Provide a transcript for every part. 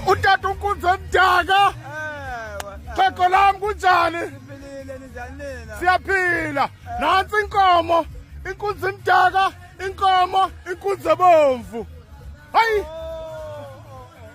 utata unkunzi omdaka xhego lam kunjani siyaphila nantsi inkomo inkunzi emdaka inkomo inkunzi ebomvu hayi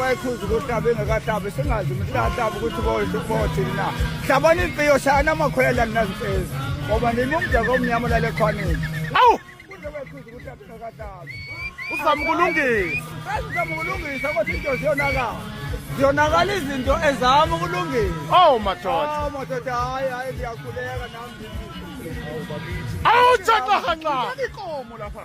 bayikhuza ukuthi abe engekahlabi singazi ukuthi lahlabi ukuthi boyisho bothini na hlabani impiyo shayana amakhwela ninazimpezi ngoba nini umdaka omnyama lale khwanini awu kuze bayikhuza ukuthi abe engekahlabi uzama ukulungisa azizama ukulungisa ukuthi into ziyonakala ziyonakala izinto ezama ukulungisa oh madoda oh madoda hayi hayi ndiyakhuleka nami awu tshaqahanqa ikomo lapha